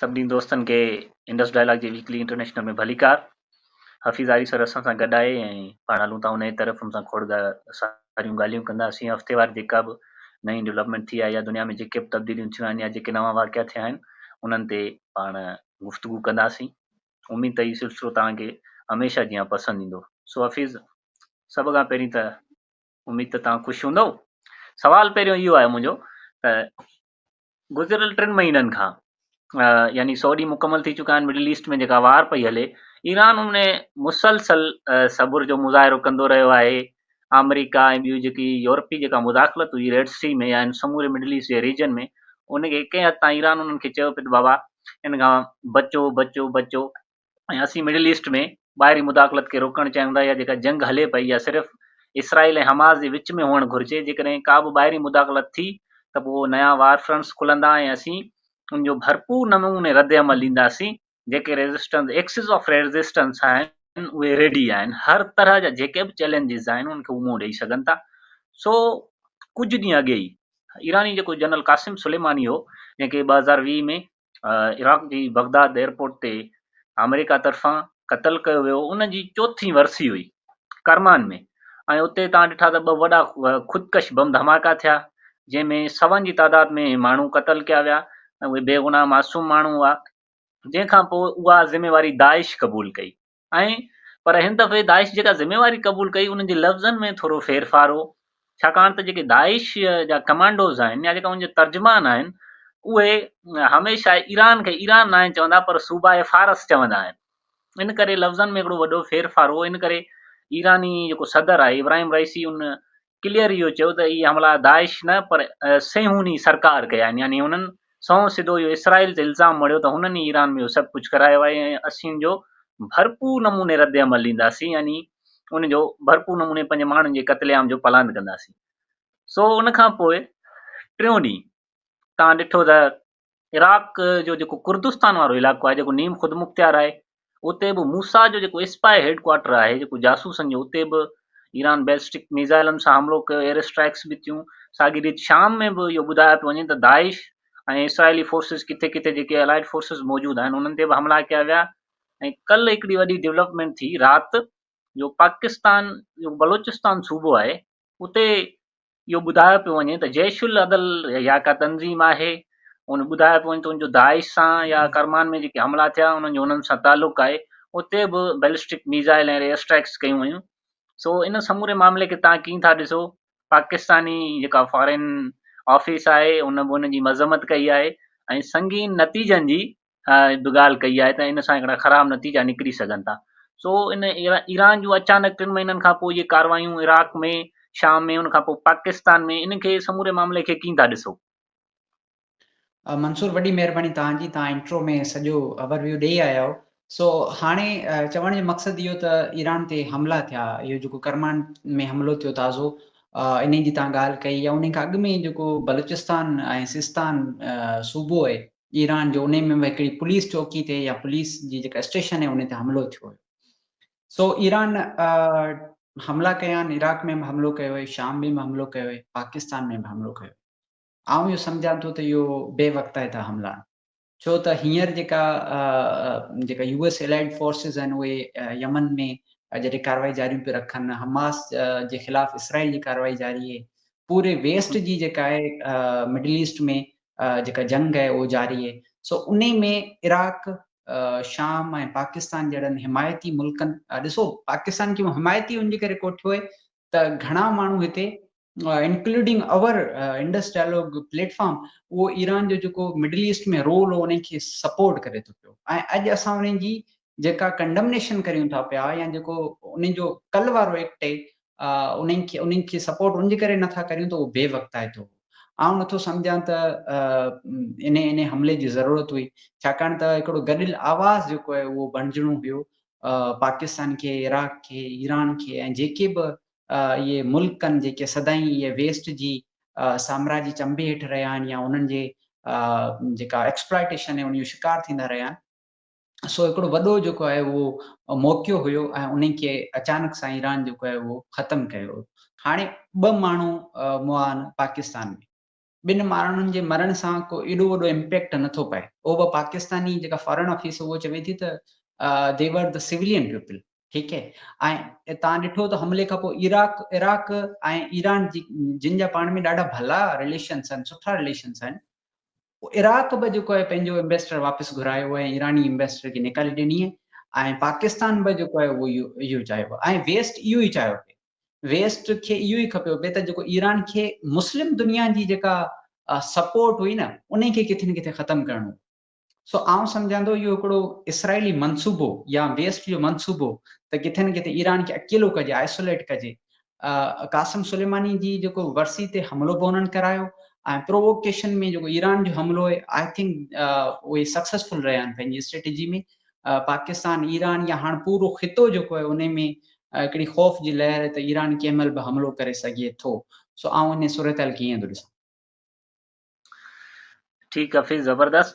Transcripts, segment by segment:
سڀني دوستن کي انڊس ڊائلاگ جي ويڪلي انٽرنيشنل ۾ ڀليڪار. حفيظ آري سر اسان سان گڏ آهي ۽ پاڻ هلون ٿا انهيء طرف ان سان کوڙ ساريون ڳالهيون ڪنداسين هفتيوار جيڪا به نئين ڊولپمينٽ ٿي آهي يا دنيا ۾ جيڪي به تبديليون ٿيون آهن يا جيڪي نوان واقعا ٿيا آهن انهن تي پاڻ گفتگو ڪنداسين اميد ته هي سلسلو توهان کي هميشه جيان پسند ايندو سو حفيظ سڀ کان پهرين ته اميد ته توهان خوش هوندو سوال پهريون اهو آهي منهنجو ته گذريل ٽن مهينن کان يعني سؤ ڏينهن مڪمل ٿي چڪا آهن مڊل ايسٽ ۾ جيڪا وار پئي هلي ايران ان ۾ مسلسل صبر جو مظاهرو ڪندو رهيو آهي آمريڪا ۽ ٻيون جيڪي يورپي جيڪا مداخلت هئي ريڊ سي ۾ يا ان سموري مڊل ايسٽ جي ريجن ۾ ان کي ڪنهن حد تائين ايران انهن کي چيو پيو ته بابا ان کان بچو بچو بچو ۽ اسين مڊل ايسٽ ۾ ٻاهرين مداخلت کي روڪڻ چاهيون ٿا يا جيڪا جنگ هلي پئي اها صرف اسرائيل ۽ حماس جي وچ ۾ هئڻ گهرجي، جيڪڏهن ڪا به ٻاهرين مداخلت ٿي ته پوء نيا وار فرنٽس کلندا ۽ اسين ان جو ڀرپور نموني رد عمل ڏينداسين، جيڪي ريزسٽنس ايڪسز آف ريزسٽنس آهن اهي ريڊي آهن، هر طرح جا جيڪي به چئلينجز آهن انهن کي هو منهن ڏئي سگهن ٿا، سو ڪجهه ڏينهن اڳي ئي ايراني جيڪو جنرل قاسم سليماني هو جنهن کي ٻه هزار ويهه ۾ عراق جي بغداد ايئرپورٽ تي آمريڪا طرفان قتل ڪيو ويو ان جي چوٿين ورسي هئي ڪرمان ۾ ۽ اتي تان ڏٺا ته ٻه وڏا خودڪش بم ڌماڪا ٿيا جنهن ۾ سون جي تعداد ۾ ماڻهو قتل ڪيا ويا ۽ اهي بيگناهه معصوم ماڻهو هئا جنهن کان پوء اها ذميواري داعش قبول ڪئي ۽ پر هن دفعي داعش جيڪا ذميواري قبول ڪئي انهن جي لفظن ۾ ٿورو ڦيرڦار هو ڇاڪاڻ ته جيڪي داعش جا ڪمانڊوز آهن يا جيڪا ان جا ترجمان آهن اهي هميشه ايران کي ايران ناهن چوندا پر صوبائي فارس چوندا آهن ان ڪري لفظن ۾ هڪڙو وڏو ڦيرڦار هو ان ڪري ايراني جيڪو صدر آهي ابراهيم رئيسي ان ڪليئر اهو چيو ته اهي حملا داعش نه پر صيهوني سرڪار ڪيا آهن يعني هنن سنئون سڌو اهو اسرائيل تي الزام مڙهيو ته هنن ئي ايران ۾ اهو سڀ ڪجهه ڪرايو آهي ۽ اسين ان جو ڀرپور نموني رد عمل ڏينداسين يعني ان جو ڀرپور نموني پنهنجي ماڻهن جي قتل عام جو پلان ڪنداسين سو ان کان پوء ٽيون ڏينهن توهان ڏٺو ته عراق جو جيڪو ڪردستان وارو علائقو آهي جيڪو نيم خودمختيار آهي اتي به موسا جو جيڪو اسپاء هيڊ ڪوارٽر آهي جيڪو جاسوسن جو اتي به ايران بيلسٽڪ ميزائلن سان حملو ڪيو ايئر اسٽرائڪس به ٿيون ساڳي ريت شام ۾ به اهو ٻڌايو پيو وڃي ته داعش ۽ اسرائيلي فورسز ڪٿي ڪٿي جيڪي الائيڊ فورسز موجود آهن انهن تي به حملا ڪيا ويا ۽ ڪل هڪڙي وڏي ڊيولپمنٽ ٿي رات جو پاڪستان جو بلوچستان صوبو آهي اتي اهو ٻڌايو پيو وڃي ته جيش العدل يا ڪا تنظيم آهي ان ٻڌايو پيو وڃي ته ان جو داعش سان يا ڪرمان ۾ جيڪي حملا ٿيا انهن جو انهن سان تعلق آهي اتي به بيلسٽڪ ميزائل ۽ ايئر اسٽرائڪس ڪيون ويون سو ان سموري معاملي کي تان ڪيئن ٿا ڏسو پاڪستاني جيڪا فارين آفيس آهي ان به ان جي مذمت ڪئي آهي ۽ سنگين نتيجن جي به ڳالهه ڪئي آهي ته ان سان هڪڙا خراب نتيجا نڪري سگهن ٿا سو ان ايران جون اچانڪ ٽن مهينن کان پوء جي ڪاروايون عراق ۾ شام ۾ ان کان پوء پاڪستان ۾ ان کي سموري معاملي کي ڪين ٿا ڏسو؟ منصور وڏي مهرباني توهان جي توهان انٽرو ۾ سڄو اوور ويو ڏيئي آيا آهيو سو هاڻي چوڻ جو مقصد اهو ته ايران تي حملا ٿيا اهو جيڪو ڪرمان ۾ حملو ٿيو تازو انهي جي توهان ڳالهه ڪئي يا انهي کان اڳ ۾ جيڪو بلوچستان ۽ سستان صوبو آهي ايران جو انهي ۾ هڪڙي پوليس چوڪي تي يا پوليس جي جيڪا اسٽيشن آهي انهي تي حملو ٿيو هيو سو ايران حملا ڪيا آهن عراق ۾ به حملو ڪيو هيئي شام ۾ به حملو ڪيو هيئي پاڪستان ۾ به حملو ڪيو آئون اهو سمجهان ٿو ته اهو بي وقتائي ٿا حملا آهن ڇو ته هينئر جيڪا جيڪا يو ايس الائيڊ فورسز آهن اهي يمن ۾ جڏهن ڪارروائي جاريون پيو رکن حماس جي خلاف اسرائيل جي ڪارروائي جاري آهي پوري ويسٽ جي جيڪا آهي مڊل ايسٽ ۾ جيڪا جنگ آهي اهو جاري آهي سو انهي ۾ عراق شام ۽ پاڪستان جهڙن حمايتي ملڪن ڏسو پاڪستان کي حمايتي ان جي ڪري ڪو ٺهي ته گهڻا ماڻهو هتي including our Indus Dialogue platform اهو ايران جو جيڪو مڊل ايسٽ ۾ رول هو انهي کي سپورٽ ڪري ٿو پيو ۽ اڄ اسان انهي جي جيڪا ڪنڊمنيشن ڪريون ٿا پيا يا جيڪو انهن جو ڪل وارو ايڪٽ اهي انهن کي انهن کي سپورٽ ان جي ڪري نه ٿا ڪريون ته اهو بي وقتائتو هو آئون نه ٿو سمجهان ته انهي انهي حملي جي ضرورت هئي ڇاڪاڻ ته هڪڙو گڏيل آواز جيڪو آهي اهو بڻجڻو هيو پاڪستان کي عراق کي ايران کي ۽ جيڪي به اهي ملڪ آهن جيڪي سدائين اهي ويسٽ جي سامراجي چنبي هيٺ رهيا آهن يا انهن جي جيڪا ايڪسپلائيٽيشن آهي ان جو شڪار ٿيندا رهيا آهن سو هڪڙو وڏو جيڪو آهي اهو موقعو هيو ۽ انهي کي اچانڪ سان ايران جيڪو آهي اهو ختم ڪيو. هاڻي ٻه ماڻهو مئا آهن پاڪستان ۾. ٻن ماڻهن جي مرڻ سان ڪو ايڏو وڏو امپيڪٽ نه ٿو پئي. اهو به پاڪستاني جيڪا فارن آفيس اهو چوي ٿي ته they were the civilian people ٺيڪ هي ۽ تان ڏٺو ته حملي کان پوء عراق عراق ۽ ايران جي جن جا پاڻ ۾ ڏاڍا ڀلا رليشنس آهن سٺا رليشنس آهن عراق به جيڪو آهي پنهنجو انويسٽر واپس گهرايو ۽ ايراني انويسٽر کي نيڪالي ڏني ۽ پاڪستان به جيڪو آهي اهو اهو چاهيو پيو ۽ ويسٽ اهو ئي چاهيو پي ويسٽ کي اهو ئي کپيو پي ته جيڪو ايران کي مسلم دنيا جي جيڪا سپورٽ هئي نه انهي کي ڪٿي نه ڪٿي ختم ڪرڻو سو آئون سمجهان ٿو اهو هڪڙو اسرائيلي منصوبو يا ويسٽ جو منصوبو ته ڪٿي نه ڪٿي ايران کي اڪيلو ڪجي آئسوليٽ ڪجي قاسم سليماني جي جيڪو ورسي تي حملو به انهن ڪرايو ۽ پرووڪيشن ۾ جيڪو ايران جو حملو هي آء ٿنڪ اهي سڪسيسفل رهيا آهن پنهنجي اسٽريٽجي ۾ پاڪستان ايران يا هاڻ پورو خطو جيڪو آهي ان ۾ هڪڙي خوف جي لهر آهي ته ايران ڪنهن مهل به حملو ڪري سگهي ٿو سو آئون ان صورتحال کي ائين ٿو ڏسان. ٺيڪ حفيظ زبردست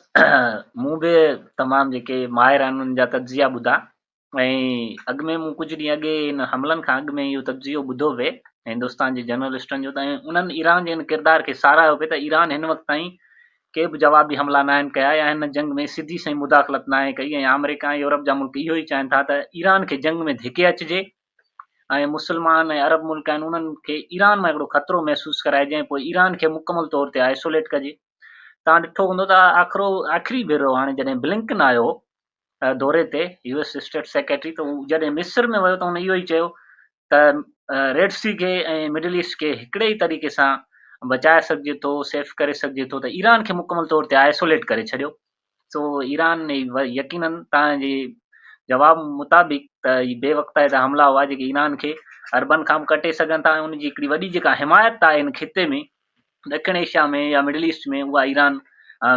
مون به تمام جيڪي ماهر آهن انهن جا تجزيا ٻڌا ۽ اڳ ۾ مون ڪجهه ڏينهن اڳ ان حملن کان اڳ ۾ اهو تجزيو ٻڌو پئي هندستان جي جرنلسٽن جو ته انهن ايران جي ان ڪردار کي ساراهيو پئي ته ايران هن وقت تائين ڪي به جوابي حملا نه آهن ڪيا يا هن جنگ ۾ سڌي سئي مداخلت نه آهي ڪئي ۽ آمريڪا ۽ يورپ جا ملڪ اهو ئي چاهين ٿا ته ايران کي جنگ ۾ ڌڪي اچجي ۽ مسلمان ۽ عرب ملڪ آهن انهن کي ايران مان هڪڙو خطرو محسوس ڪرائجي ۽ پوء ايران کي مڪمل طور تي آئسوليٽ ڪجي توهان ڏٺو هوندو ته آخرو آخري ڀيرو هاڻي جڏهن بلنڪن آيو دوري تي يو ايس اسٽيٽ سيڪريٽري ته جڏهن مصر ۾ ويو ته هن اهو ئي چيو ته ريڊ سي کي ۽ مڊل ايسٽ کي هڪڙي ئي طريقي سان بچائي سگهجي ٿو سيف ڪري سگهجي ٿو ته ايران کي مڪمل طور تي آئسوليٽ ڪري ڇڏيو سو ايران يقيناً توهان جي جواب مطابق ته هي بي وقتائي جا حملا هئا جيڪي ايران کي عربن کان به ڪٽي سگهن ٿا ۽ ان جي هڪڙي وڏي جيڪا حمايت آهي ان خطي ۾ ڏکڻ ايشيا ۾ يا مڊل ايسٽ ۾ اها ايران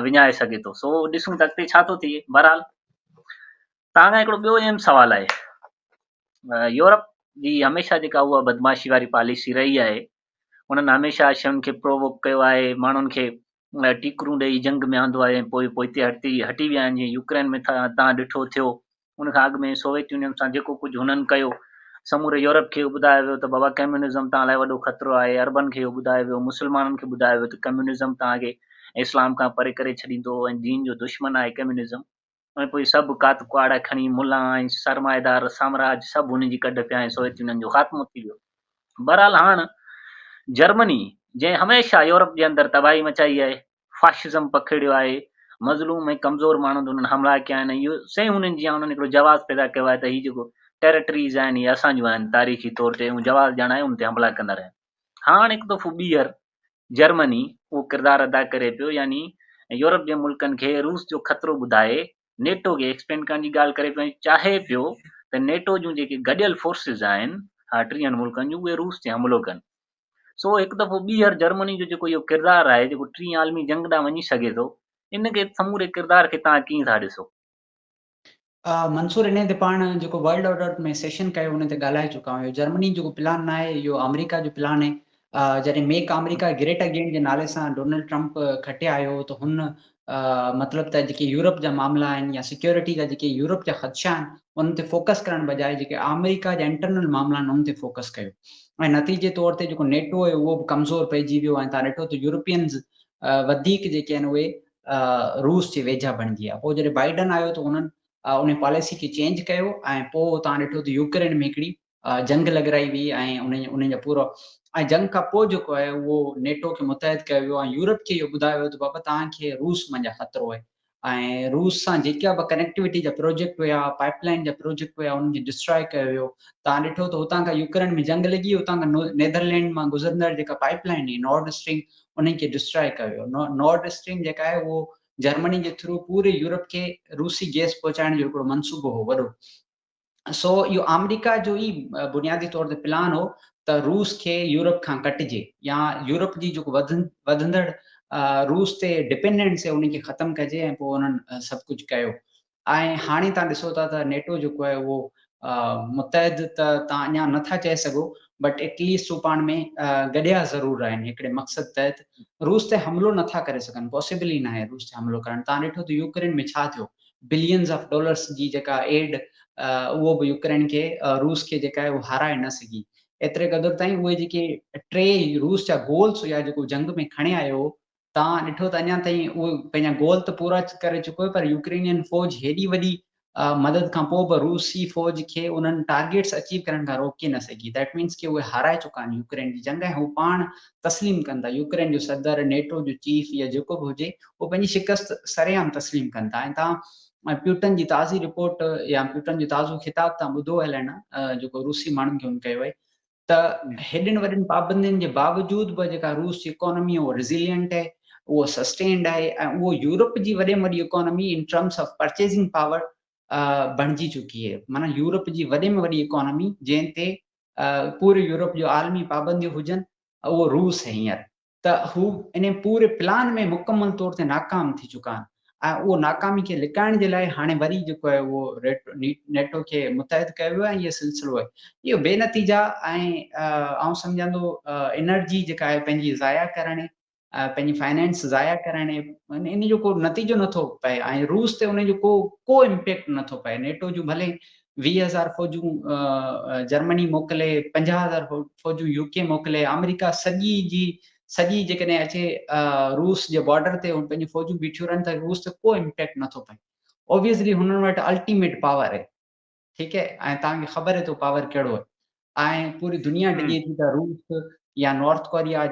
وڃائي سگهي ٿو سو ڏسون ته اڳتي ڇا ٿو ٿئي بهرحال توهان کان هڪڙو ٻيو اهم سوال آهي يورپ جي هميشه جيڪا اها بدماشي واري پاليسي رهي آهي انهن هميشه شين کي پرووڪ ڪيو آهي ماڻهن کي ٽيڪرون ڏئي جنگ ۾ آندو آهي ۽ پوء پوئتي هٽي هٽي ويا آهن، جيئن يوڪرين ۾ ٿا تان ڏٺو ٿيو. ان کان اڳ ۾ سوويت يونين سان جيڪو ڪجهه هنن ڪيو، سموري يورپ کي اهو ٻڌايو ويو ته بابا ڪميونزم توهان لاء وڏو خطرو آهي، عربن کي اهو ٻڌايو ويو، مسلمانن کي ٻڌايو ويو ته ڪميونزم توهان کي اسلام کان پري ڪري ڇڏيندو ۽ دين جو دشمن آهي ڪميونزم. ۽ پوء سڀ ڪات ڪهاڙا کڻي ملان ۽ سرمائيدار سامراج سڀ هن جي ڪڍ پيا ۽ سوويت يونين جو خاتمو ٿي ويو. بهرحال هاڻ جرمني جنهن هميشه يورپ جي اندر تباهي مچائي آهي، فاشزم پکيڙيو آهي، مظلوم ۽ ڪمزور ماڻهن تي انهن حملا ڪيا آهن ۽ اهو سئي هونين جيان انهن هڪڙو جواز پيدا ڪيو آهي ته هي جيڪو ٽيريٽريز آهن اهي اسان جون آهن تاريخي طور تي اهو جواز ڄاڻائي ان تي حملا ڪندا رهيا آهن. هاڻ هڪ دفعو ٻيهر جرمني اهو ڪردار ادا ڪري پيو يعني يورپ جي ملڪن کي روس جو خطرو ٻڌائي نيٽو کي ايڪسپينڊ ڪرڻ جي ڳالهه ڪري پيو ۽ چاهي پيو ته نيٽو جون جيڪي گڏيل فورسز آهن ٽيهن ملڪن جون اهي روس تي حملو ڪن سو هڪ دفعو ٻيهر جرمني جو جيڪو اهو ڪردار آهي جيڪو ٽين عالمي جنگ ڏانهن وڃي سگهي ٿو ان کي سموري ڪردار کي تان ڪيئن ٿا ڏسو منصور انهيء تي پاڻ جيڪو ورلڊ آرڊر ۾ سيشن ڪيو ان تي ڳالهائي چڪا آهيون. جرمني جيڪو پلان ناهي اهو آمريڪا جو پلان هي. جڏهن ميڪ آمريڪا گريٽ اگين جي نالي سان ڊونلڊ ٽرمپ کٽي آيو هو ته هن مطلب ته جيڪي يورپ جا معاملا آهن يا سيڪيورٽي جا جيڪي يورپ جا خدشا آهن انهن تي فوڪس ڪرڻ بجاء جيڪي آمريڪا جا انٽرنل معاملا آهن انهن تي فوڪس ڪيو ۽ نتيجي طور تي جيڪو نيٽو هي اهو به ڪمزور پئجي ويو ۽ تان ڏٺو ته يورپينز وڌيڪ جيڪي آهن اهي روس جي ويجها بڻجي آ پوء جڏهن بائيڊن آيو ته انهن انهي پاليسي کي چينج ڪيو ۽ پوء توهان ڏٺو ته يوڪرين ۾ هڪڙي جنگ لڳرائي وئي ۽ انهن جا پورا ۽ جنگ کان پوء جيڪو آهي اهو نيٽو کي متحد ڪيو ويو ۽ يورپ کي اهو ٻڌايو ويو ته بابا توهان کي روس منجهان خطرو آهي ۽ روس سان جيڪا به ڪنيڪٽيوٽي جا پروجيڪٽ هيا پائيپ لائين جا پروجيڪٽ هيا انهن کي ڊسٽراء ڪيو ويو توهان ڏٺو ته هتان کان يوڪرين ۾ جنگ لڳي هتان کان نيدرلينڊ مان گذرندڙ جيڪا پائيپ لائين هي نارڊ اسٽريم انهن کي ڊسٽراء ڪيو ويو. نارڊ اسٽريم جيڪا آهي اهو جرمني جي ٿرو پوري يورپ کي روسي گئس پهچائڻ جو هڪڙو منصوبو هو وڏو سو اهو آمريڪا جو ئي بنيادي طور تي پلان هو ته روس کي يورپ کان ڪٽجي يا يورپ جي جيڪو وڌندڙ روس تي ڊپينڊنس هي ان کي ختم ڪجي ۽ پوء انهن سڀ ڪجهه ڪيو ۽ هاڻي توهان ڏسو ٿا ته نيٽو جيڪو آهي اهو متحد ته توهان اڃا نه ٿا چئي سگهو بٽ ايٽ ليسٽ هو پاڻ ۾ گڏيا ضرور آهن هڪڙي مقصد تحت روس تي حملو نه ٿا ڪري سگهن پاسيبل ئي ناهي روس تي حملو ڪرڻ توهان ڏٺو ته يوڪرين ۾ ڇا ٿيو بلينز آف ڊالرس جي جيڪا ايڊ اهو به يوڪرين کي روس کي جيڪا آهي اهو هارائي نه سگهي ايتري قدر تائين اهي جيڪي ٽي روس جا گولس هيا جيڪو جنگ ۾ کڻي آيو توهان ڏٺو ته اڃا تائين اهو پنهنجا گول ته پورا ڪري چڪو آهي پر يوڪرينين فوج هيڏي وڏي مدد کان پوء به روسي فوج کي انهن ٽارگيٽس اچيو ڪرڻ کان روڪي نه سگهي That means ڪي اهي هارائي چڪا آهن يوڪرين جي جنگ ۽ هو پاڻ تسليم ڪن ٿا يوڪرين جو صدر نيٽو جو چيف يا جيڪو به هجي اهو پنهنجي شڪست سري عام تسليم ڪن ٿا ۽ توهان پيوٽن جي تازي رپورٽ يا پيوٽن جو تازو خطاب توهان ٻڌو هلائڻ جيڪو روسي ماڻهن کي هن ڪيو آهي ته هيڏين وڏين پابندين جي باوجود به جيڪا روس جي اڪانومي اهو ريزيلينٽ آهي، اهو سسٽينڊ آهي ۽ اهو يورپ جي وڏي ۾ وڏي economy in terms of purchasing power بڻجي چڪي آهي معنيٰ يورپ جي وڏي ۾ وڏي اڪانومي جنهن تي پوري يورپ جو عالمي پابنديون هجن اهو روس هينئر ته هو انهي پوري پلان ۾ مڪمل طور تي ناڪام ٿي چڪا آهن ۽ اهو ناڪامي کي لڪائڻ جي لاء هاڻي وري جيڪو آهي اهو نيٽو کي متحد ڪيو ويو آهي ۽ اهي سلسلو آهي اهو بي نتيجا ۽ آئون سمجهان ٿو انرجي جيڪا آهي پنهنجي ضايع ڪرڻ پنهنجي فائنانس ضايع ڪرڻ ان جو ڪو نتيجو نٿو پئي ۽ روس تي ان جو ڪو ڪو امپيڪٽ نٿو پئي نيٽو جون ڀلي ويهه هزار فوجون جرمني موڪلي، پنجاهه هزار فوجون يو ڪي موڪلي، آمريڪا سڄي جي سڄي جيڪڏهن اچي روس جي بارڊر تي هن پنهنجون فوجون بيٺيون رهن ته روس تي ڪو امپيڪٽ نٿو پئي. اوبويسلي هنن وٽ الٽيميٽ پاور اهي ٺيڪ اهي ۽ توهان کي خبر اهي ته پاور ڪهڙو اهي ۽ پوري دنيا ڊڄي ٿي ته روس يا نارٿ ڪوريا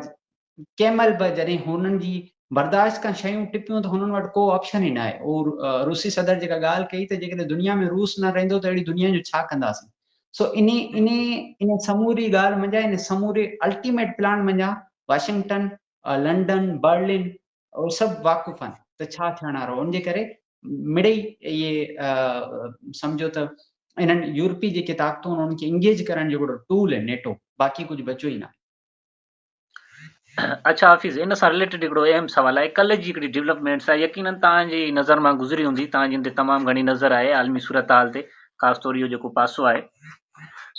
ڪنهن مهل به جڏهن هنن جي برداشت کان شيون ٽپيون ته هنن وٽ ڪو آپشن ئي ناهي. اهو روسي صدر جيڪا ڳالهه ڪئي ته جيڪڏهن دنيا ۾ روس نه رهندو ته اهڙي دنيا جو ڇا ڪنداسين؟ سو انهي انهي انهي سموري ڳالهه منجهان انهي سموري الٽيميٽ پلان منجهان واشنگٽن، لنڊن، برلن اهي سڀ واقف آهن ته ڇا ٿيڻ وارو ان جي ڪري مڙئي اهي سمجهو ته انهن يورپي جيڪي طاقتون انهن کي انگيج ڪرڻ جو هڪڙو ٽول آهي نيٽو باقي ڪجهه بچيو ئي ناهي. اڇا حفيظ ان سان رليٽيڊ هڪڙو اهم سوال آهي ڪلهه جي هڪڙي ڊيولپمينٽ سان يقينن توهان جي نظر مان گذري هوندي توهان جن تي تمام گهڻي نظر آهي عالمي صورتحال تي خاص طور اهو جيڪو پاسو آهي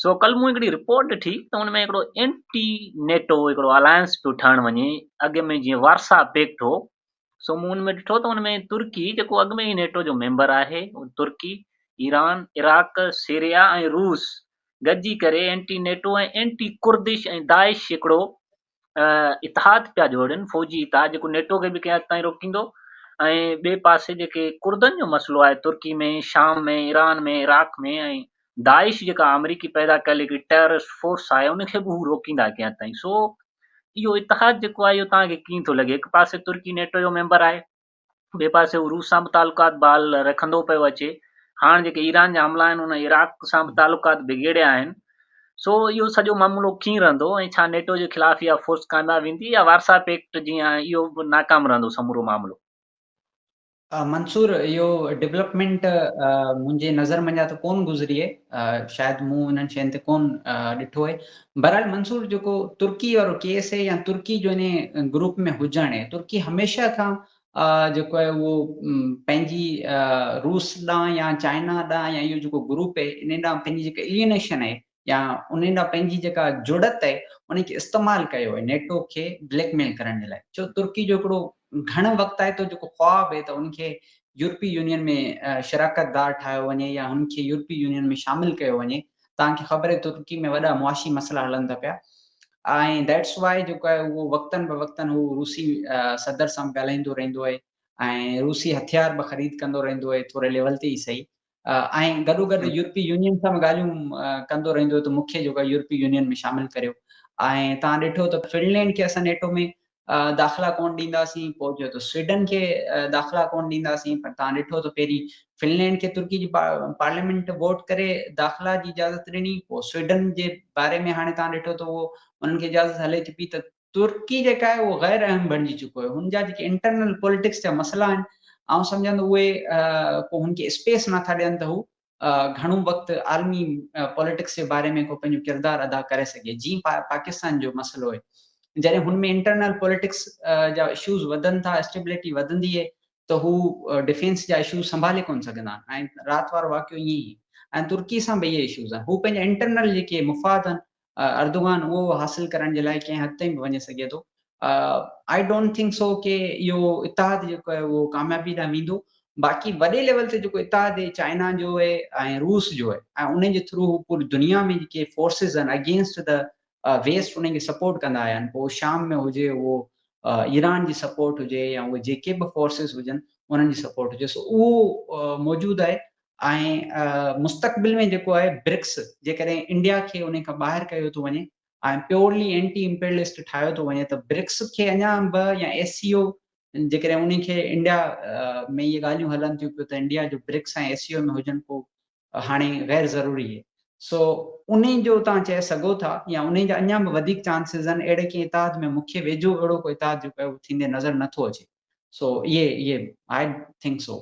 سو ڪلهه مون هڪڙي رپورٽ ڏٺي ته ان ۾ هڪڙو اينٽي نيٽو هڪڙو الائنس پيو ٺهڻ وڃي اڳ ۾ جيئن وارسا پيڪٽ هو سو مون ان ۾ ڏٺو ته ان ۾ ترڪي جيڪو اڳ ۾ ئي نيٽو جو ميمبر آهي ترڪي ايران عراق سيريا ۽ روس گڏجي ڪري اينٽي نيٽو ۽ اينٽي ڪردش ۽ داعش جيڪڙو اتحاد پيا جوڙن فوجي اتحاد جيڪو نيٽو کي به ڪنهن تائين روڪيندو ۽ ٻئي پاسي جيڪي ڪردن جو مسئلو آهي ترڪي ۾ شام ۾ ايران ۾ عراق ۾ ۽ داعش جيڪا آمريڪي پيدا ڪيل هڪڙي ٽيررسٽ فورس آهي ان کي به هو روڪيندا ڪيئن تائين سو اهو اتحاد جيڪو آهي اهو توهان کي ڪيئن ٿو لڳي هڪ پاسي ترڪي نيٽو جو ميمبر آهي ٻئي پاسي هو روس سان به تعلقات بحال رکندو پيو اچي هاڻ جيڪي ايران جا حملا آهن ان عراق سان به تعلقات بگيڙيا آهن سو اهو سڄو معاملو ڪيئن رهندو ۽ ڇا نيٽو جي خلاف اها فورس ڪامياب ويندي يا وارسا پيڪٽ جيئن اهو به ناڪام رهندو سمورو معاملو منصور، اهو ڊولپمينٽ منهنجي نظر منجهان ته ڪون گذري آهي، شايد مون انهن شين تي ڪون ڏٺو آهي. بهرحال منصور جيڪو ترڪي وارو ڪيس آهي يا ترڪي جو انهي گروپ ۾ هجڻ آهي، ترڪي هميشه کان جيڪو آهي اهو پنهنجي روس ڏانهن يا چائنا ڏانهن يا اهو جيڪو گروپ آهي انهي ڏانهن پنهنجي جيڪا الينيشن آهي يا انهن ڏانهن پنهنجي جيڪا جڙت آهي ان کي استعمال ڪيو آهي نيٽو کي بليڪ ميل ڪرڻ جي لاء ڇو ترڪي جو هڪڙو گهڻ وقت آهي تو جيڪو خواب آهي ته ان کي يورپي يونين ۾ شراڪت دار ٺاهيو وڃي يا هن کي يورپي يونين ۾ شامل ڪيو وڃي توهان کي خبر آهي ترڪي ۾ وڏا معاشي مسئلا هلن ٿا پيا ۽ ذيٽس واء جيڪو آهي اهو وقتن به وقتن هو روسي صدر سان ڳالهائيندو رهندو آهي ۽ روسي هٿيار به خريد ڪندو رهندو آهي ٿوري ليول تي ئي صحيح ۽ گڏوگڏ يورپي يونين سان به ڳالهيون ڪندو رهندو ته مون کي جيڪو يورپي يونين ۾ شامل ڪريو ۽ توهان ڏٺو ته فنلينڊ کي اسان نيٽو ۾ داخلا ڪونه ڏينداسين پوء چيو ته سوئيڊن کي داخلا ڪونه ڏينداسين پر توهان ڏٺو ته پهرين فنلينڊ کي ترڪي جي پارليامينٽ ووٽ ڪري داخلا جي اجازت ڏني پوء سوئيڊن جي باري ۾ هاڻي توهان ڏٺو ته اهو انهن کي اجازت هلي ٿي پئي ته ترڪي جيڪا آهي اهو غير اهم بڻجي چڪو آهي هن جا جيڪي انٽرنل پوليٽڪس جا مسئلا آهن آئون سمجهان ٿو اهي ڪو هن کي اسپيس نٿا ڏين ته هو گهڻو وقت عالمي پوليٽڪس جي باري ۾ ڪو پنهنجو ڪردار ادا ڪري سگهي جي پاڪستان جو مسئلو آهي جڏهن هن ۾ انٽرنل پوليٽڪس جا اشوز وڌن ٿا اسٽيبلٽي وڌندي آهي ته هو ڊفينس جا اشوز سنڀالي ڪون سگهندا آهن ۽ رات وارو واقعو ائين ئي ۽ ترڪي سان به اهي اشوز آهن هو پنهنجا انٽرنل جيڪي مفاد آهن اردوغان اهو حاصل ڪرڻ جي لاء ڪنهن حد تائين به وڃي سگهي ٿو. آئي ڊونٽ ٿنڪ سو ڪي اهو اتحاد جيڪو آهي اهو ڪاميابي ڏانهن ويندو باقي وڏي ليول تي جيڪو اتحاد هي چائنا جو هي ۽ روس جو هي ۽ انهن جي ٿرو هو پوري دنيا ۾ جيڪي فورسز آهن اگينسٽ ته ويسٽ انهن کي سپورٽ ڪندا آيا آهن پوء شام ۾ هجي اهو ايران جي سپورٽ هجي يا اهي جيڪي به فورسز هجن انهن جي سپورٽ هجي سو اهو موجود آهي ۽ مستقبل ۾ جيڪو آهي برڪس جيڪڏهن انڊيا کي انهي کان ٻاهر ڪيو ٿو وڃي ۽ پيورلي اينٽي امپيرلسٽ ٺاهيو ٿو وڃي ته برڪس کي اڃا به يا ايس سي او جيڪڏهن انهي کي انڊيا ۾ اهي ڳالهيون هلن ٿيون پيون ته انڊيا جو برڪس ۽ ايس سي او ۾ هجڻ ڪو هاڻي غير ضروري هي سو انهي جو توهان چئي سگهو ٿا يا انهي جا اڃا به وڌيڪ چانسز آهن اهڙي ڪنهن اتحاد ۾ مون کي ويجهو اهڙو ڪو اتحاد جيڪو آهي اهو ٿيندي نظر نه ٿو اچي سو اهي اهي آئي ٿنڪ سو.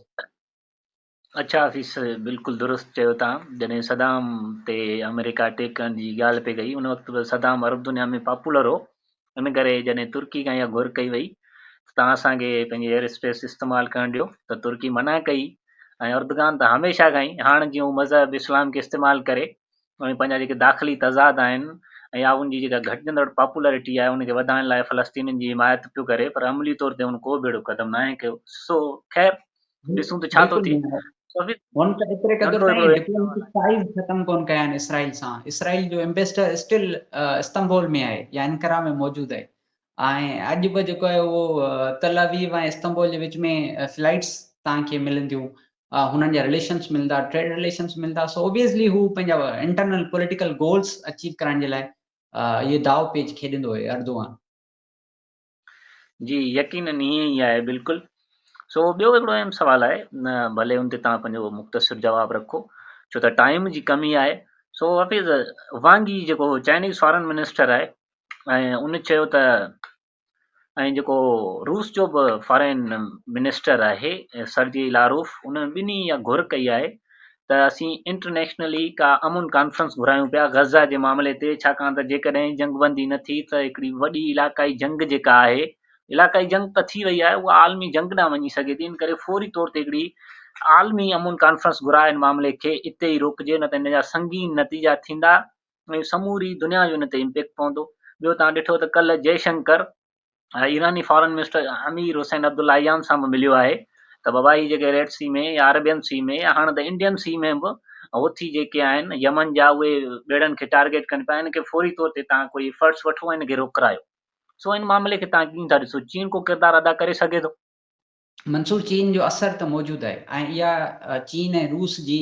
اچا حفيظ بلڪل درست چيو تان جڏهن صدام تي آمريڪا اٽيڪ ڪرڻ جي ڳالهه پئي ڪئي ان وقت به صدام عرب دنيا ۾ پاپولر هو ان ڪري جڏهن ترڪي کان اها گهر ڪئي وئي ته تان اسان کي پنهنجي ايئر اسپيس استعمال ڪرڻ ڏيو ته ترڪي منع ڪئي ۽ اردگان ته هميشه کان ئي هاڻ جي هو مذهب اسلام کي استعمال ڪري اوهين پنهنجا جيڪي داخلي تضاد آهن ۽ آئون جي جيڪا گهٽجندڙ پاپولرٽي آهي ان کي وڌائڻ لاء فلسطينين جي حمايت پيو ڪري پر عملي طور تي هن ڪو به اهڙو قدم ناهي کنيو سو خير ڏسون ته ڇا ٿو ٿئي هن ته ايتري قدر تائين ڊپلوميٽڪ ٽائيز ختم ڪون ڪيا آهن اسرائيل سان اسرائيل جو ايمبيسڊر اسٽل استنبول ۾ آهي يا انقره ۾ موجود آهي ۽ اڄ به جيڪو آهي اهو تل اويو ۽ استنبول جي وچ ۾ فلائيٽس توهان کي ملنديون هنن جا رليشنس ملندا ٽريڊ رليشنس ملندا سو اوبيسلي هو پنهنجا انٽرنل پوليٽيڪل گولز اچيو ڪرائڻ جي لاء اهو داو پيچ کيڏندو هو اردوغان جي يقينن ائين ئي آهي بلڪل سو ٻيو هڪڙو اهم سوال آهي ڀلي ان تي توهان پنهنجو مختصر جواب رکو ڇو ته ٽائيم جي ڪمي آهي سو حفيظ وانگي جيڪو چائنيز فارن منسٽر آهي ۽ ان چيو ته ۽ جيڪو روس جو به فارين منسٽر آهي سرجي لاروف انهن ٻنهي اها گهر ڪئي آهي ته اسين انٽرنيشنلي ڪا امن ڪانفرنس گهرايون پيا غزه جي معاملي تي ڇاڪاڻ ته جيڪڏهن جنگبندي نه ٿي ته هڪڙي وڏي علاقائي جنگ جيڪا آهي علاقائي جنگ ته ٿي وئي آهي اها عالمي جنگ ڏانهن وڃي سگهي ٿي ان ڪري فوري طور تي هڪڙي عالمي امن ڪانفرنس گهراء ان معاملي کي اتي ئي روڪجي نه ته ان جا سنگين نتيجا ٿيندا ۽ سموري دنيا جو ان تي امپيڪٽ پوندو. ٻيو توهان ڏٺو ته ڪلهه جئي شنڪر ايراني foreign minister Amir Hossein Abdollahian سان به مليو آهي ته بابا هي جيڪي ريڊ سي ۾ يا عربين سي ۾ يا هاڻ ته انڊين سي ۾ به هوٿي جيڪي آهن يمن جا اهي ٻيڙن کي ٽارگيٽ ڪن پيا ان کي فوري طور تي تان ڪوئي افرٽس وٺو ۽ ان کي روڪرايو سو ان معاملي کي تان ڪيئن ٿا ڏسو چين ڪو ڪردار ادا ڪري سگهي ٿو؟ منصور چين جو اثر ته موجود آهي ۽ اها چين ۽ روس جي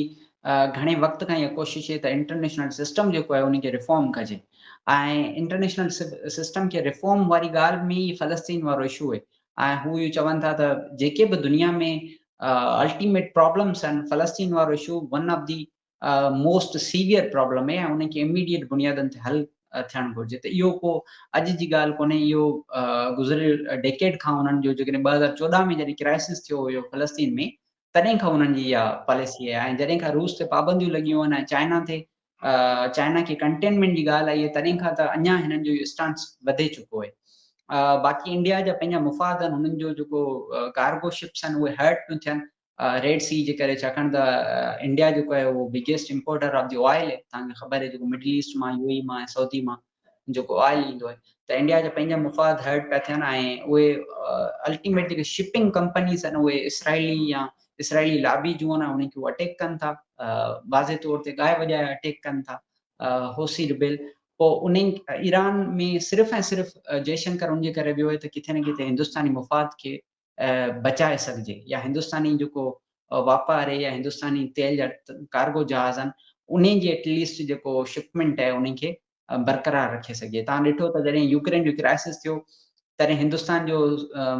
گهڻي وقت کان اها ڪوشش هي ته انٽرنيشنل سسٽم جيڪو آهي ان کي ريفارم ڪجي ۽ انٽرنيشنل سسٽم کي ريفارم واري ڳالهه ۾ ئي فلسطين وارو اشو هي ۽ هو اهو چون ٿا ته جيڪي به دنيا ۾ الٽيميٽ پرابلمس آهن فلسطين وارو issue one of the most severe problem ۽ انهن کي اميڊيئيٽ بنيادن تي حل ٿيڻ گهرجي ته اهو ڪو اڄ جي ڳالهه ڪونهي اهو گذريل ڊيڪيڊ کان انهن جو جيڪڏهن ٻه هزار چوڏهن ۾ جڏهن ڪرائسس ٿيو هيو فلسطين ۾ تڏهن کان انهن جي اها پاليسي آهي ۽ جڏهن کان روس تي پابنديون لڳيون آهن ۽ چائنا تي چائنا کي ڪنٽينمينٽ جي ڳالهه آئي آهي تڏهن کان ته اڃا هنن جو اهو اسٽانس وڌي چڪو آهي باقي انڊيا جا پنهنجا مفاد آهن هنن جو جيڪو ڪارگو شپس آهن اهي هرٽ پيون ٿين ريڊ سي جي ڪري ڇاڪاڻ ته انڊيا جيڪو آهي اهو biggest importer of the oil آهي تان کي خبر آهي جيڪو مڊل ايسٽ مان يو اي مان ۽ سعودي مان جيڪو آئل ايندو آهي ته انڊيا جا پنهنجا مفاد هرٽ پيا ٿين ۽ اهي الٽيميٽ جيڪي شپنگ ڪمپنيز آهن اهي اسرائيلي يا اسرائيلي لابي جون آهن انهن کي اهو اٽيڪ ڪن ٿا واضح طور تي ڳائي وڄائي اٽيڪ ڪن ٿا هوسي ربيل پوء انهن ايران ۾ صرف ۽ صرف جئشنڪر ان جي ڪري ويو آهي ته ڪٿي نه ڪٿي هندستاني مفاد کي بچائي سگهجي يا هندستاني جيڪو واپاري يا هندستاني تيل جا ڪارگو جهاز آهن انهن جي ايٽ ليسٽ جيڪو شپمينٽ آهي انهن کي برقرار رکي سگهجي توهان ڏٺو ته جڏهن يوڪرين جو ڪرائسس ٿيو تڏهن هندستان جو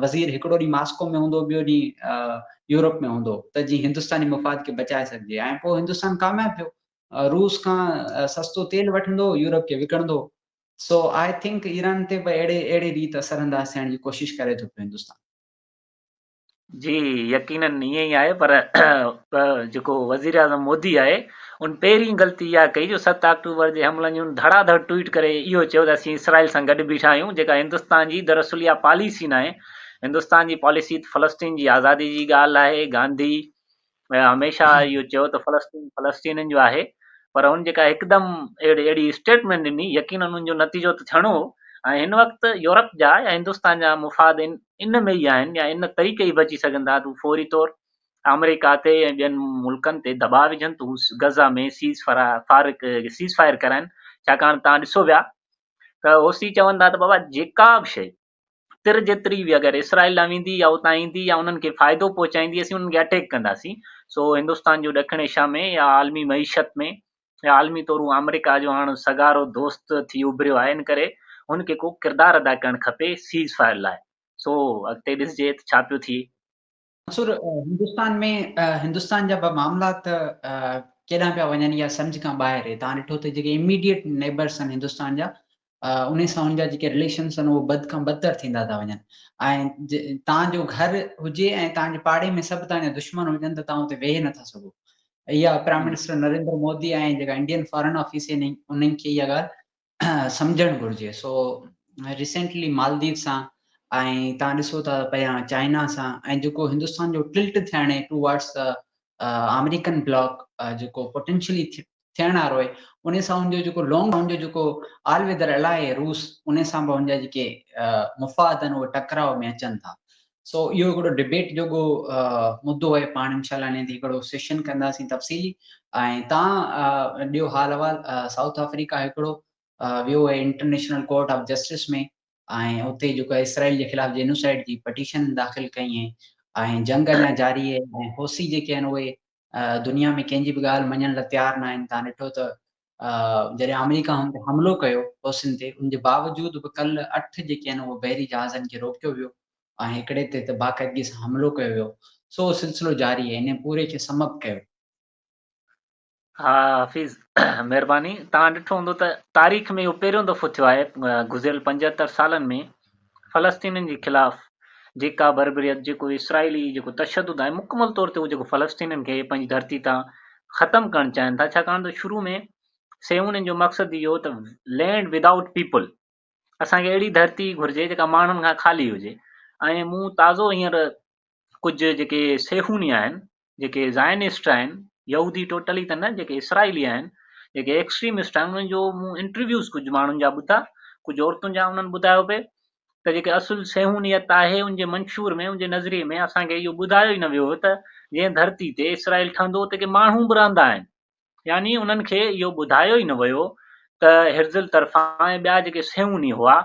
وزير هڪڙو ڏينهن ماسڪو ۾ هوندو ٻيو ڏينهن يورپ ۾ هوندو ته جي هندستاني مفاد کي بچائي سگهجي ۽ پوء هندستان ڪامياب ٿيو روس کان سستو تيل وٺندو يورپ کي وڪڻندو سو آء ٿنڪ ايران تي به اهڙي اهڙي ريت اثر انداز ٿيڻ جي ڪوشش ڪري ٿو پيو هندستان. جي يقينن ائين ئي آهي پر جيڪو وزيراعظم مودي آهي ان پهرين غلطي اها ڪئي جو ست آڪٽوبر جي حملن جي ان ڌڙا ڌڙ ٽوئيٽ ڪري اهو چيو ته اسين اسرائيل سان گڏ بيٺا آهيون جيڪا هندستان جي دراصل اها پاليسي ناهي هندستان جي پاليسي ته فلسطين جي آزادي جي ڳالهه آهي گانڌي هميشه اهو چيو ته فلسطين فلسطينين جو آهي پر هن جيڪا هڪدم اهڙي اهڙي اسٽيٽمينٽ ڏني يقينن ان جو نتيجو ته ٿيڻو هو ۽ هن وقت يورپ جا يا هندستان جا مفاد ان ان ۾ ئي آهن يا ان طريقي ئي بچي سگهن ٿا ته هو فوري طور آمريڪا تي ۽ ٻين ملڪن تي دٻاء وجهن ته هو غزه ۾ سيز فرا فارق سيز فائر ڪرائن ڇاڪاڻ تان ڏسو ويا ته اوسي چون ٿا ته بابا جيڪا به شيء تر جيتري به اگر اسرائيل ڏانهن ويندي يا اتان ايندي يا انهن کي فائدو پهچائيندي اسين انهن کي اٽيڪ ڪنداسين سو هندستان جو ڏکڻ ايشيا ۾ يا عالمي معيشت ۾ يا عالمي طور هو آمريڪا جو هاڻ سگهارو دوست ٿي اڀريو آهي ان ڪري هن کي ڪو ڪردار ادا ڪرڻ کپي سيز فائر لاء سو اڳتي ڏسجي ته ڇا پيو ٿئي. منصور، هندستان ۾ هندستان جا به معاملات ڪيڏانهن پيا وڃن يا سمجهه کان ٻاهر اهي توهان ڏٺو ته جيڪي اميڊيٽ نيبرس آهن هندستان جا انهي سان ان جا جيڪي رليشنس آهن اهي بد کان بدتر ٿيندا ٿا وڃن ۽ توهان جو گهر هجي ۽ توهان جي پاڙي ۾ سڀ توهان جا دشمن هجن ته توهان اتي ويهي نٿا سگهو اها پرائم منسٽر نريندر مودي ۽ جيڪا انڊين فارن آفيس آهن انهن کي اها ڳالهه سمجهڻ گهرجي سو ريسينٽلي مالديپ سان ۽ تان ڏسو ته پيا چائنا سان ۽ جيڪو هندستان جو ٽلٽ ٿيڻ ٽو وارڊس ته آمريڪن بلاڪ جيڪو پوٽينشلي ٿيڻ وارو آهي ان سان ان جو جيڪو لانگ ان جو جيڪو آل ويدر الاء روس ان سان به ان جا جيڪي مفاد آهن اهي ٽڪراء ۾ اچن ٿا سو اهو هڪڙو ڊبيٽ جوڳو مدو آهي پاڻ انشاء الله انهي تي هڪڙو سيشن ڪنداسين تفصيلي ۽ تان ڏيو حال احوال سائوٿ آفريڪا هڪڙو ويو آهي انٽرنيشنل ڪورٽ آف جسٽس ۾ ۽ اتي جيڪو اسرائيل جي خلاف جينوسائيڊ جي پٽيشن داخل ڪئي ۽ جنگ اڃا جاري آهي ۽ حوثي جيڪي آهن اهي دنيا ۾ ڪنهن جي به ڳالهه مڃڻ لاء تيار ناهن، توهان ڏٺو ته جڏهن آمريڪا هن تي حملو ڪيو حوثين تي ان جي باوجود به ڪل اٺ جيڪي آهن اهي بحري جهازن کي روڪيو ويو ۽ هڪڙي تي ته باقاعدگي سان حملو ڪيو ويو سو اهو سلسلو جاري آهي انهي پوري کي سمپ ڪيو. ها حفيظ مهرباني توهان ڏٺو هوندو ته تاريخ ۾ اهو پهريون دفعو ٿيو آهي گذريل پنجهتر سالن ۾ فلسطينين جي خلاف جيڪا بربريت، جيڪو اسرائيلي جيڪو تشدد آهي مڪمل طور تي اهو جيڪو فلسطينين کي پنهنجي ڌرتي تان ختم ڪرڻ چاهين ٿا ڇاڪاڻ ته شروع ۾ صيونين جو مقصد اهو هو ته لينڊ ود آئوٽ پيپل اسان کي اهڙي ڌرتي گهرجي جيڪا ماڻهن کان خالي هجي ۽ مون تازو هينئر ڪجهه جيڪي صيهوني آهن، جيڪي زائنسٽ آهن، يهودي ٽوٽلي ته نه، جيڪي اسرائيلي آهن، جيڪي ايڪسٽريمسٽ آهن، انهن جو مون انٽرويوز ڪجهه ماڻهن جا ٻڌا، ڪجهه عورتن جا، انهن ٻڌايو پئي ته جيڪي اصل صيهونيت آهي، ان جي منشور ۾، ان جي نظريي ۾ اسان کي اهو ٻڌايو ئي نه ويو هو ته جنهن ڌرتي تي اسرائيل ٺهندو اتي ڪي ماڻهو به رهندا آهن. يعني انهن کي اهو ٻڌايو ئي نه ويو ته هرزل طرفان ۽ ٻيا جيڪي صيهوني هئا،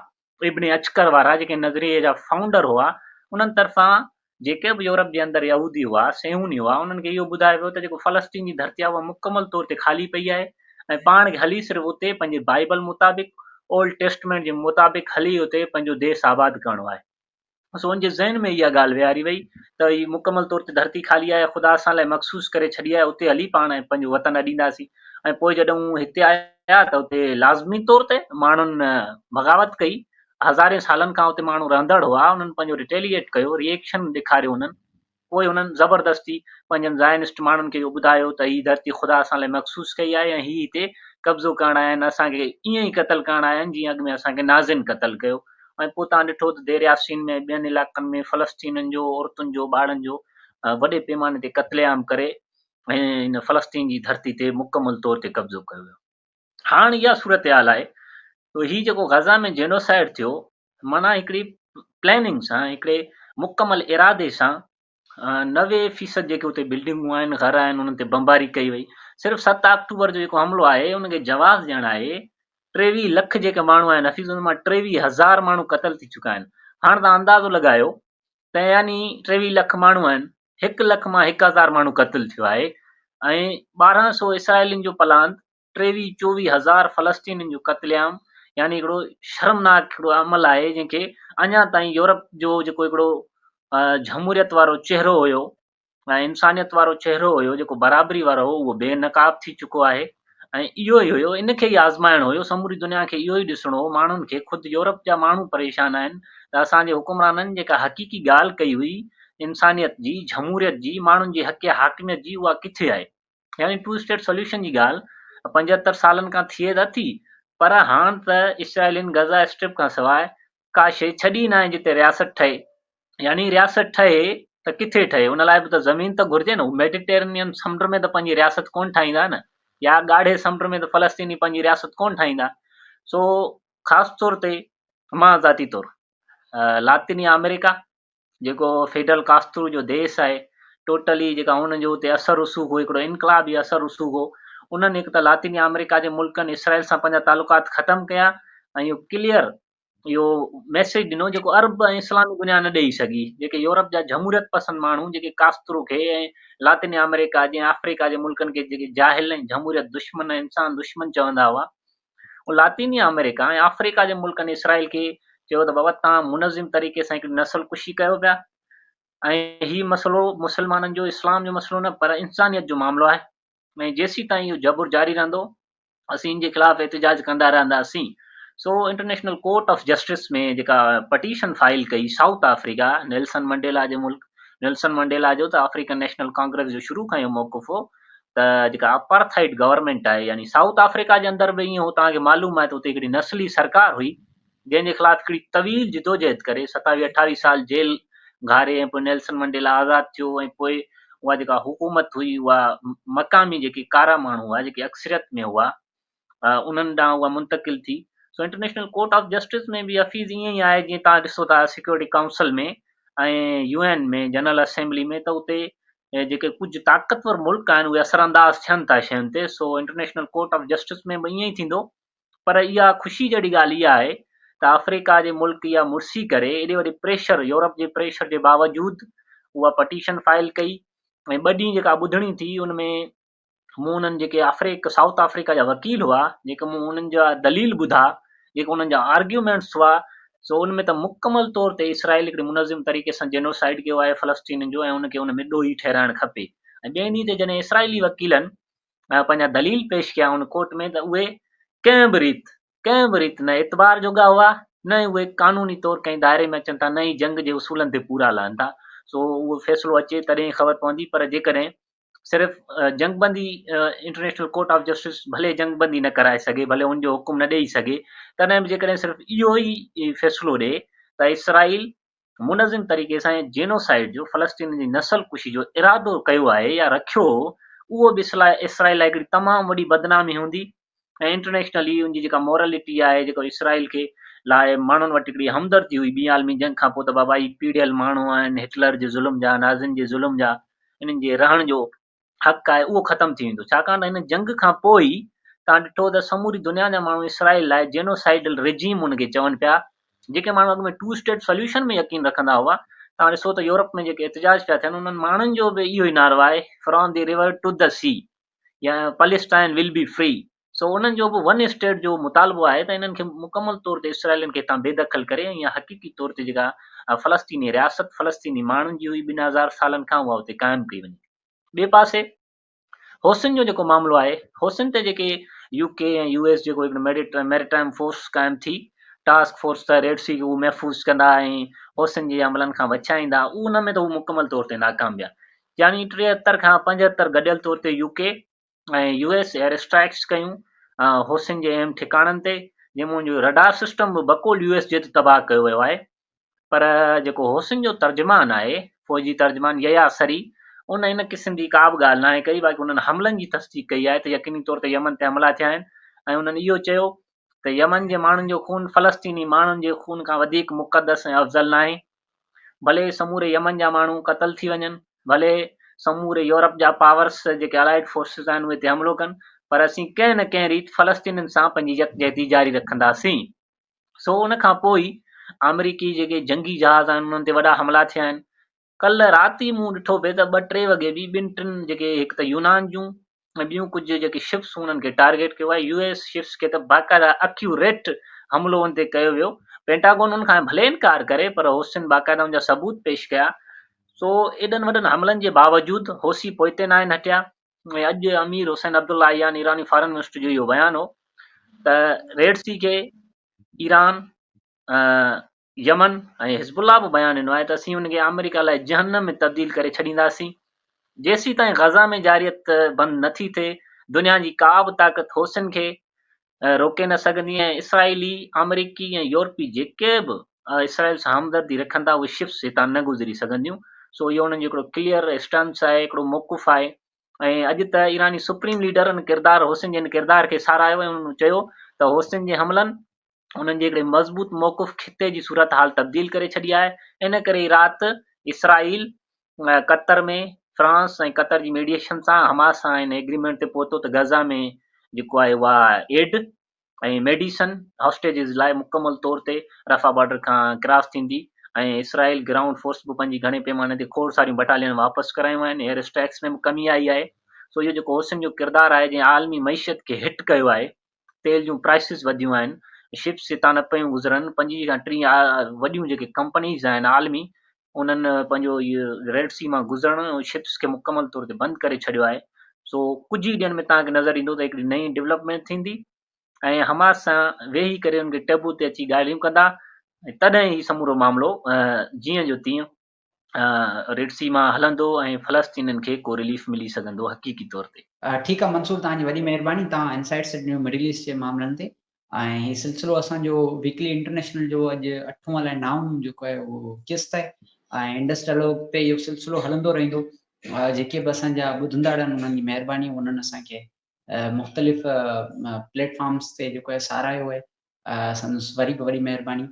ابن عچڪر وارا جيڪي نظريي جا فائونڊر هئا انهن طرفان جيڪي به يورپ جي اندر يهودي هئا، صيهوني هئا، انهن کي اهو ٻڌايو ويو ته جيڪو فلسطين جي ڌرتي آهي اها مڪمل طور تي خالي پئي آهي ۽ پاڻ کي هلي صرف اتي پنهنجي بائيبل مطابق، اولڊ ٽيسٽمينٽ جي مطابق هلي اتي پنهنجو ديس آباد ڪرڻو آهي. سون جي ذهن ۾ اها ڳالهه ويهاري وئي ته هي مڪمل طور تي ڌرتي خالي آهي، خدا اسان لاء مخصوص ڪري ڇڏي آهي، اتي هلي پاڻ پنهنجو وطن اڏينداسين ۽ پوء جڏهن هو هتي آيا ته اتي لازمي طور تي ماڻهن بغاوت ڪئي، هزارين سالن کان اتي ماڻهو رهندڙ هئا، انهن پنهنجو رٽيليئيٽ ڪيو، ري ايڪشن ڏيکاريو انهن. پوء هنن زبردستي پنهنجن زائنسٽ ماڻهن کي اهو ٻڌايو ته هي ڌرتي خدا اسان لاء مخصوص ڪئي آهي ۽ هي هتي قبضو ڪرڻ آيا آهن، اسان کي ائين ئي قتل ڪرڻ آيا آهن جيئن اڳ ۾ اسان کي نازين قتل ڪيو ۽ پوء توهان ڏٺو ته دير ياسين ۾ ۽ ٻين علائقن ۾ فلسطينين جو عورتن جو ٻارڙن جو وڏي پيماني تي قتل عام ڪري هن فلسطين جي ڌرتي تي مڪمل طور تي قبضو ڪيو ويو. هاڻ اها صورتحال آهي ته هي جيڪو غزه ۾ جينوسائيڊ ٿيو معنيٰ هڪڙي پلاننگ سان هڪڙي مڪمل ارادي سان نوي فيصد جيڪي اتي بلڊنگون آهن گهر آهن انهن تي بمباري ڪئي وئي صرف ست آڪٽوبر جو جيڪو حملو آهي ان کي جواز ڏيڻ آهي ٽيويهه لک جيڪي ماڻهو آهن حفيظ ان مان ٽيويهه هزار ماڻهو قتل ٿي چڪا آهن هاڻ تان اندازو لڳايو ته يعني ٽيويهه لک ماڻهو آهن هڪ لک مان هڪ هزار ماڻهو قتل ٿيو آهي ۽ ٻارهن سو اسرائيلين جو پلاند ٽيويهه چوويهه هزار فلسطينين جو قتل عام يعني هڪڙو شرمناڪ هڪڙو عمل آهي جنهن کي اڃا تائين يورپ جو جيڪو هڪڙو جمهوريت وارو چهرو هيو ۽ انسانيت وارو چهرو هيو جيڪو برابري وارو هو اهو بي نقاب ٿي چڪو آهي ۽ اهو ئي هيو ان کي ئي آزمائڻو هيو سموري دنيا کي اهو ئي ڏسڻو هو ماڻهن کي خود يورپ جا ماڻهو پريشان آهن ته اسان جي حڪمرانن جيڪا حقيقي ڳالهه ڪئي هئي انسانيت جي جمهوريت جي ماڻهن جي حق حاڪميت جي اها ڪٿي آهي يعني ٽو اسٽيٽ سوليوشن جي ڳالهه پنجهتر سالن کان ٿئي ته اٿي پر هاڻ ته اسرائيلين غزه اسٽرپ کان سواء ڪا شيء ڇڏي ناهي جتي رياست ٺهي يعني رياست ٺهي ته ڪٿي ٺهي ان لاء به ته زمين ته گهرجي نه هو ميڊيٽرينين سمنڊ ۾ ته پنهنجي رياست ڪونه ٺاهيندا نه يا ڳاڙهي سمنڊ ۾ ته فلسطيني پنهنجي رياست ڪونه ٺاهيندا سو خاص طور تي مان ذاتي طور لاطيني آمريڪا جيڪو فيڊل ڪاسترو جو ديس آهي ٽوٽلي جيڪا ان جو اتي اثر رسوخ هو هڪڙو انقلابي اثر رسوخ هو انهن هڪ ته لاطيني آمريڪا جي ملڪن اسرائيل سان پنهنجا تعلقات ختم ڪيا ۽ اهو ڪليئر اهو ميسيج ڏنو جيڪو عرب ۽ اسلامي دنيا نه ڏيئي سگهي جيڪي يورپ جا جمهوريت پسند ماڻهو جيڪي ڪاسترو کي ۽ لاطيني آمريڪا جي آفريڪا جي ملڪن کي جيڪي جاهل ۽ جمهوريت دشمن ۽ انسان دشمن چوندا هئا هو لاطيني آمريڪا ۽ آفريڪا جي ملڪن اسرائيل کي چيو ته بابا توهان منظم طريقي سان هڪڙي نسل ڪشي ڪيو پيا ۽ هي مسئلو مسلمانن جو اسلام جو مسئلو نه پر انسانيت جو معاملو آهي ۽ جيسيتائين اهو جبر جاري رهندو اسين ان جي خلاف احتجاج ڪندا رهنداسين سو انٽرنيشنل ڪورٽ آف جسٽس ۾ جيڪا پٽيشن فائل ڪئي سائوٿ آفريڪا نيلسن منڊيلا جي ملڪ نيلسن منڊيلا جو ته آفريڪن نيشنل ڪانگريس جو شروع کان اهو موقف هو ته جيڪا اپارٿائيڊ گورنمينٽ آهي يعني سائوٿ آفريڪا جي اندر به ايئن هو توهان کي معلوم آهي ته اتي هڪڙي نسلي سرڪار هئي جنهن جي خلاف هڪڙي طويل جدوجهد ڪري ستاويهه اٺاويهه سال جيل گهاري ۽ پوء نيلسن منڊيلا آزاد ٿيو ۽ پوء اها جيڪا حڪومت هئي اها مقامي جيڪي ڪارا ماڻهو هئا جيڪي اڪثريت ۾ هئا انهن ڏانهن اها منتقل ٿي سو انٽرنيشنل ڪورٽ آف جسٽس ۾ به حفيظ ائين ئي آهي جيئن تان ڏسو ٿا Security Council ۾ ۽ U N ۾ General Assembly ۾ ته اتي جيڪي ڪجهه طاقتور ملڪ آهن اهي اثر انداز ٿين ٿا شين تي سو انٽرنيشنل ڪورٽ آف جسٽس ۾ به ائين ئي ٿيندو پر اها خوشي جهڙي ڳالهه اها آهي ته آفريڪا جي ملڪ اها مرسي ڪري ايڏي وڏي پريشر يورپ جي پريشر جي باوجود اها پٽيشن فائل ڪئي ۽ ٻه ڏينهن جيڪا ٻڌڻي ٿي ان ۾ مون انهن جيڪي آفريڪ سائوٿ آفريڪا جا وڪيل هئا جيڪي مون انهن جا دليل ٻڌا جيڪي انهن جا آرگيومينٽس هئا سو ان ۾ ته مڪمل طور تي اسرائيل هڪڙي منظم طريقي سان جينوسائيڊ ڪيو آهي فلسطينين جو ۽ ان کي ان ۾ ڏوهي ٺهرائڻ کپي ۽ ٻئي ڏينهن تي جڏهن اسرائيلي وڪيلن پنهنجا دليل پيش ڪيا ان ڪورٽ ۾ ته اهي ڪنهن به ريت ڪنهن به ريت نه اعتبار جوڳا هئا نه ئي اهي قانوني طور ڪنهن دائري ۾ اچن ٿا نه ئي جنگ جي اصولن تي پورا لهن ٿا سو اهو فيصلو اچي تڏهن خبر پوندي پر جيڪڏهن صرف جنگ بندي انٽرنيشنل ڪورٽ آف جسٽس ڀلي جنگ بندي نه ڪرائي سگهي ڀلي ان جو حڪم نه ڏئي سگهي تڏهن به جيڪڏهن صرف اهو ئي فيصلو ڏئي ته اسرائيل منظم طريقي سان جينوسائيڊ جو فلسطين جي نسل ڪشي جو ارادو ڪيو آهي يا رکيو هو اهو به اسرائيل لاء هڪڙي تمام وڏي بدنامي هوندي ۽ انٽرنيشنل هي ان جي جيڪا مورلٽي آهي جيڪو اسرائيل کي لاء ماڻهن وٽ هڪڙي همدردي هئي ٻي عالمي جنگ کانپوء ته بابا هي پيڙهيل ماڻهو آهن هٽلر جي ظلم جا نازين جي ظلم جا انهن جي رهڻ جو حق آهي اهو ختم ٿي ويندو ڇاڪاڻ ته هن جنگ کان پوء ئي تان ڏٺو ته سموري دنيا جا ماڻهو اسرائيل لاء جينوسائيڊل رجيم ان کي چون پيا جيڪي ماڻهو اڳ ۾ ٽو اسٽيٽ سوليوشن ۾ يقين رکندا هئا تان ڏسو ته يورپ ۾ جيڪي احتجاج پيا ٿين انهن ماڻهن جو به اهو ئي نعرو آهي from the river to the sea يا پليسٽائن ول بي فري سو انهن جو به ون اسٽيٽ جو مطالبو آهي ته انهن کي مڪمل طور تي اسرائيلين کي هتان بي دخل ڪري ۽ اها حقيقي طور تي جيڪا فلسطيني رياست فلسطيني ماڻهن جي هئي ٻن هزار سالن کان اها اتي قائم ڪئي وڃي ٻئي پاسي حوثين جو جيڪو معاملو آهي حوثين تي جيڪي يو ڪي ۽ يو ايس جيڪو هڪڙي ميريٽائم فورس قائم ٿي ٽاسڪ فورس ته ريڊ سي کي محفوظ ڪندا ۽ حوثين جي عملن کان وڇائيندا ان ۾ ته هو مڪمل طور تي ناڪام ويا يعني ٽيهتر کان پنجهتر گڏيل طور تي U K ۽ U S air strikes ڪيون حوثين جي اهم ٺڪاڻن تي جنهن مان جو رڊار سسٽم به بقول يو ايس جي تي تباهه ڪيو ويو آهي پر جيڪو حوثين جو ترجمان آهي فوجي ترجمان يحيٰ سري ان ان قسم جي ڪا به ڳالهه ناهي ڪئي باقي انهن حملن جي تصديق ڪئي آهي ته يقيني طور تي يمن تي حملا ٿيا آهن ۽ انهن اهو چيو ته يمن جي ماڻهن جو خون فلسطيني ماڻهن جي خون کان وڌيڪ مقدس ۽ افضل ناهي ڀلي سموري يمن جا ماڻهو قتل ٿي وڃن، ڀلي سموري يورپ جا پاورس جيڪي الائيڊ فورسز آهن اهي هتي حملو ڪن پر اسين ڪنهن نه ڪنهن ريت فلسطينين سان پنهنجي يڪجهتي جاري رکنداسين. سو ان کان پوء ئي آمريڪي جيڪي جنگي جهاز آهن انهن تي وڏا حملا ٿيا آهن. ڪلهه رات ئي مون ڏٺو پئي ته ٻه ٽي وڳي به ٻن ٽن جيڪي هڪ ته يونان جون ۽ ٻيون ڪجهه جيڪي شپس انهن کي ٽارگيٽ ڪيو آهي، يو ايس شپس کي ته باقاعده اڪيوريٽ حملو ان تي ڪيو ويو، پينٽاگون ان کان ڀلي انڪار ڪري پر حوثين باقاعده ان جا ثبوت پيش ڪيا، سو ايڏن وڏن حملن جي باوجود حوثي پوئتي ناهن هٽيا ۽ اڄ امير حسين عبدالله عيان ايراني فارن منسٽر جو اهو بيان هو ته ريڊ سي کي ايران يمن ۽ حزب الله به بيان ڏنو آهي ته اسين ان کي آمريڪا لاء جهنم ۾ تبديل ڪري ڇڏينداسين. جيسيتائين غزه ۾ جارحيت بند نه ٿي ٿئي، دنيا جي ڪا به طاقت حوثين کي روڪي نه سگهندي ۽ اسرائيلي، آمريڪي ۽ يورپي جيڪي به اسرائيل سان همدردي رکن ٿا اهي شپس هتان نه گذري سگهنديون. سو اهو انهن جو هڪڙو ڪليئر اسٽانس آهي، هڪڙو موقف آهي ۽ اڄ ته ايراني سپريم ليڊر ان ڪردار حوثين جي ان ڪردار کي ساراهيو ۽ انهن چيو ته حوثين جي حملن انهن جي هڪڙي مضبوط موقف خطي جي صورتحال تبديل ڪري ڇڏي آهي، ان ڪري ئي رات اسرائيل قطر ۾ فرانس ۽ قطر جي ميڊيئيشن سان حماس سان ان ايگريمينٽ تي پهتو ته غزه ۾ جيڪو آهي اها ايڊ ۽ ميڊيسن هاسٽيجز لاء مڪمل طور تي رفح بارڊر کان ڪراس ٿيندي ۽ اسرائيل گرائونڊ فورس به پنهنجي گهڻي پيماني تي کوڙ ساريون بٽاليون واپس ڪرايون آهن، ايئر اسٽرائيڪس ۾ به ڪمي آئي آهي، سو اهو جيڪو حوثين جو ڪردار آهي جنهن عالمي معيشت کي هٽ ڪيو آهي، تيل جون پرائسز وڌيون آهن، شپس جتان نه پيون گذرن، پنجين کان ٽين وڏيون جيڪي ڪمپنيز آهن عالمي انهن پنهنجو هي ريڊ سي مان گذرڻ ۽ شپس کي مڪمل طور تي بند ڪري ڇڏيو آهي سو ڪجهه ئي ڏينهن ۾ توهان کي نظر ايندو ته هڪڙي نئين ڊيولپمينٽ ٿيندي ۽ حماس سان ويهي ڪري ان کي ٽيبو تي اچي ڳالهيون ڪندا تڏهن هي سمورو معاملو جيئن جو تيئن ريڊ سي مان هلندو ۽ فلسطينين کي ڪو رليف ملي سگهندو حقيقي طور تي. ٺيڪ آ منصور توهان جي وڏي مهرباني توهان انسائيڊ سٽ نيو مڊل ايسٽ جي معاملن تي ۽ هي سلسلو اسان جو ويڪلي انٽرنيشنل جو اڄ اٺون الائي نائون جيڪو آهي اهو قسط آهي ۽ انڊس ڊائلاگ تي اهو سلسلو هلندو رهندو جيڪي به اسان جا ٻڌندڙ آهن انهن جي مهرباني انهن اسان کي مختلف پليٽ فارمز تي جيڪو آهي ساراهيو آهي سندس وري به وڏي مهرباني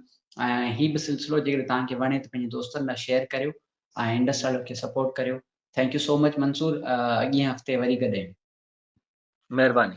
۽ هي به سلسلو جيڪڏهن توهان کي وڻي ته پنهنجي دوستن لاء شيئر ڪريو ۽ انڊس لاڙو کي سپورٽ ڪريو thank you so much Mansoor اڳئين هفتي وري گڏيون. مهرباني